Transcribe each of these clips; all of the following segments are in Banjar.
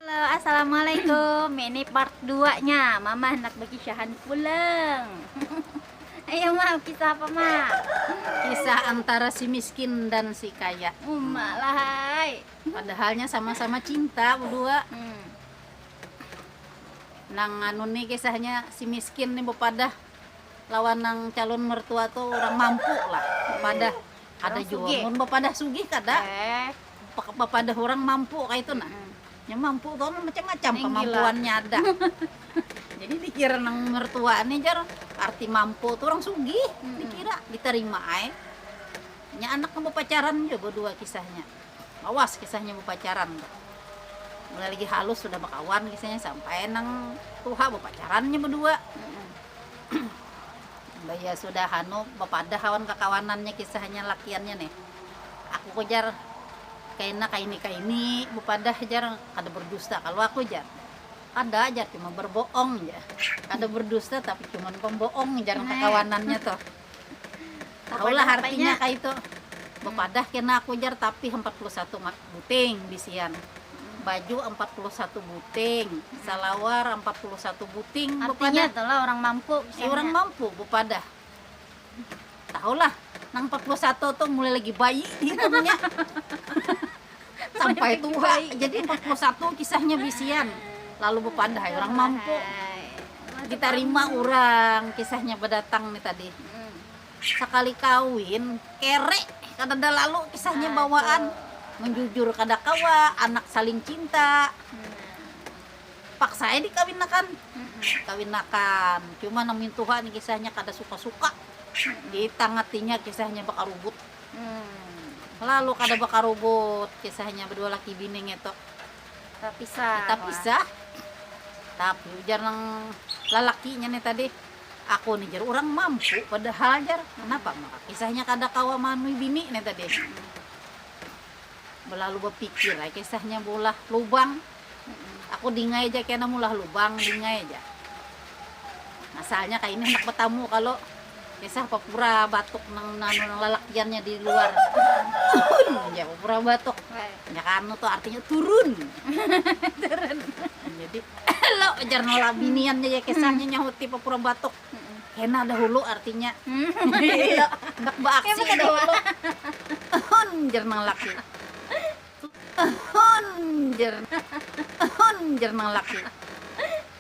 Halo, Assalamualaikum. Ini part 2-nya. Mama hendak berkisahan pulang. Ayo, Ma, kisah apa, Ma? Kisah antara si miskin dan si kaya. Uma lah, hai. Padahalnya sama-sama cinta berdua. Hmm. Nang anu nih kisahnya si miskin nih bepadah lawan nang calun mertua tu urang mampu lah bapadah kada jua mun bapadah sugih kada bapadah urang mampu kaitu nah nya mampu tu kan macam macam kamampuannya ada jadi dikira nang mertua ni jar arti mampu tu urang sugih dikira ditarima ai nya anak nang bapacaran jua badua kisahnya. Lawas kisahnya bapacaran tuh. Mulai lagi halus sudah bakawan kisahnya sampai nang tuha bapacaran inya badua. Imbahnya sudah anu bapadah awan kakawanannya kisahnya lakiannya nih. Aku ku jar kaina kaini-kaini bapadah jar kada berdusta kalu aku jar. Kada jar cuma berboong jar. Kada berdusta tapi cuman pemboong jar kakawanannya tuh. Tahulah artinya kah itu. Bepadah kena aku jar tapi 41 mat buting bisian. Baju 41 buting, salawar 41 buting Artinya bepadah. itulah orang mampu. Eh, misalnya. orang mampu bepadah. Tahulah nang 41 tu mulai lagi bayi hitungnya. Sampai tua, jadi 41 kisahnya bisian, lalu bepadah ai urang mampu. Ditarima urang kisahnya bedatang ni tadi. Sakali kawin, kere kadada lalu kisahnya bawaan, menjujur kada kawa, anak saling cinta, paksa ai dikawinakan, dikawinakan, cuma nang mintuha ni kisahnya kada suka-suka, di tang hatinya kisahnya bakarubut. Lalu kada bakarugut kisahnya bedua laki bini ngetu. Tapisah. Tapisah. Tapi ujar nang lalakinya nih tadi, aku nih jar orang mampu padahal jar kenapa maka kisahnya kada kawa manui bini nih tadi. Belalu bepikir ai kisahnya bulah lubang. Aku dingai ja kena mulah lubang dingai ja masalahnya kaini handak batamu kalu kisah papura batuk nang nanu nang lalakiannya di luar tuhun ja papura batuk nya kanu tu artinya turun jadi elo jar nolak biniannya ja kisahnya nyahuti papura batuk kena dahulu artinya handak baaksi dahulu tuhun jar nang laki. Tuhun jar tuhun jar nang laki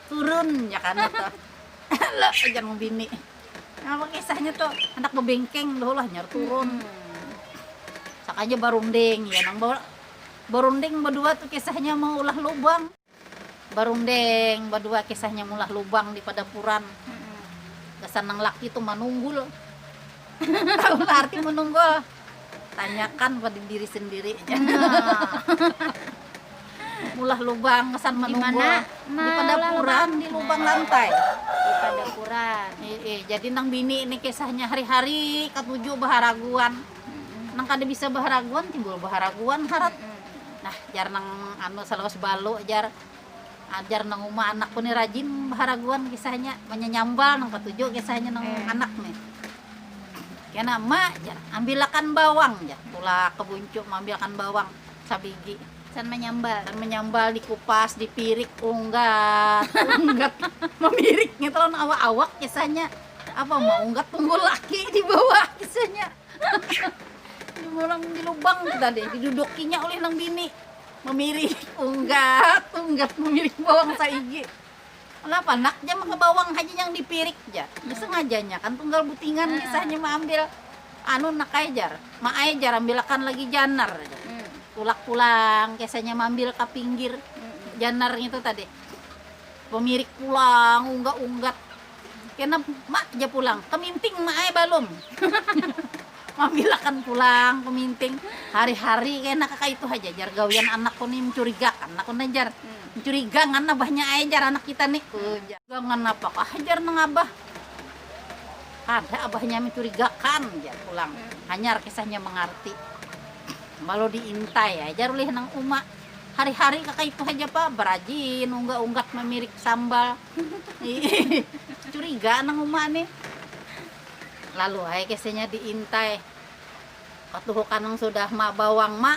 turun jar kada tuh ala jar nang bini napa kisahnya tuh handak bebengkeng dah ulah jar turun sakaja barunding ya nang barunding badua tuh kisahnya maulah lubang. Barundeng badua kisahnya mulah lubang di padapuran gasan nang laki tu manunggul tahu kah arti manunggul tanyakan pada diri sendiri mulah lubang gasan manunggul di padapuran di lubang lantai jadi nang bini ni kisahnya hari-hari katuju baharaguan. nang kada bisa baharaguan timbul baharaguan harat nah jar nang anu salawas balu jar jar nang uma anakku ni rajin baharaguan kisahnya manyanyambal nang katuju kisahnya nang anak ni kena ma jar ambilakan bawang jar tulak ka buncu maambilakan bawang sabigi Can manyambal. Can manyambal dikupas, dipirik, unggat, unggat, mamirik ngitu lawan awak-awak kisahnya. apa maunggat tunggu laki di bawah kisahnya orang di lubang tadi didudukinya oleh nang bini memirik unggat unggat memirik bawang saigi kenapa nak jam ke bawang haji yang dipirik ja sengajanya kan tunggal butingan hmm. kisahnya mengambil anu nak ajar mak ajar ambilakan lagi janar hmm. tulak pulang kisahnya mengambil ke pinggir hmm. janar itu tadi pemirik pulang unggat unggat Kena mak ja pulang, keminting mak ai balum. Mamilakan pulang keminting, hari-hari kena kakaitu haja jar gawian anakku ni mencurigakan aku nah jar. Mencuriga ngan abahnya ai jar anak kita ni ku jar. Mencuriga ngan apakah jar nang abah, kada abahnya mencurigakan jar pulang. Hanyar kisahnya mangarti. Malu diintai ai jar ulih nang uma, hari-hari kakaitu haja pa, berajin ungga-unggat mamirik sambal. Curiga nang uma nih. Lalu ay kesenya diintai. Katuhukan nang sudah ma bawang ma.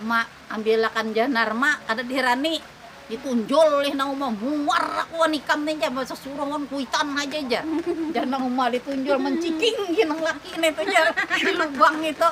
Ma ambilakan janar ma kada diherani. Ditunjul lih nang uma muar aku wan ikam nih jar basa suruh wan kuitan haja jar. Jar nang uma ditunjul menciking gin nang laki nih tu jar di lubang itu.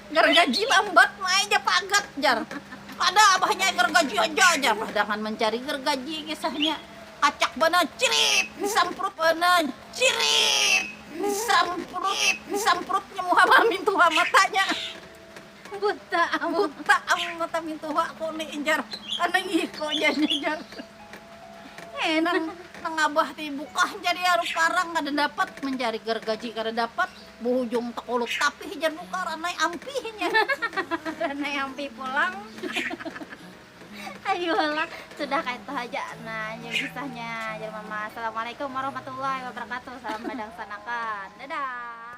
Gargaji lambat maai ja pagat jar pada abahnya gargaji haja jar padangan mancari gargaji kisahnya kacak banar cirit disamprut banar cirit disamprut disamprutnya muha mintuha matanya buta buta am mata mintuha ku ni jar karna ngiko janya jar he nang nang abah ti bukah jar iya ruparang kada dapat mancari gargaji kada dapat. buhujung takulut tapih jar muka ranai ampih nya ranai ampih pulang Ayolah, sudah kayak itu aja nah yang kisahnya jadi mama assalamualaikum warahmatullahi wabarakatuh salam badangsanakan dadah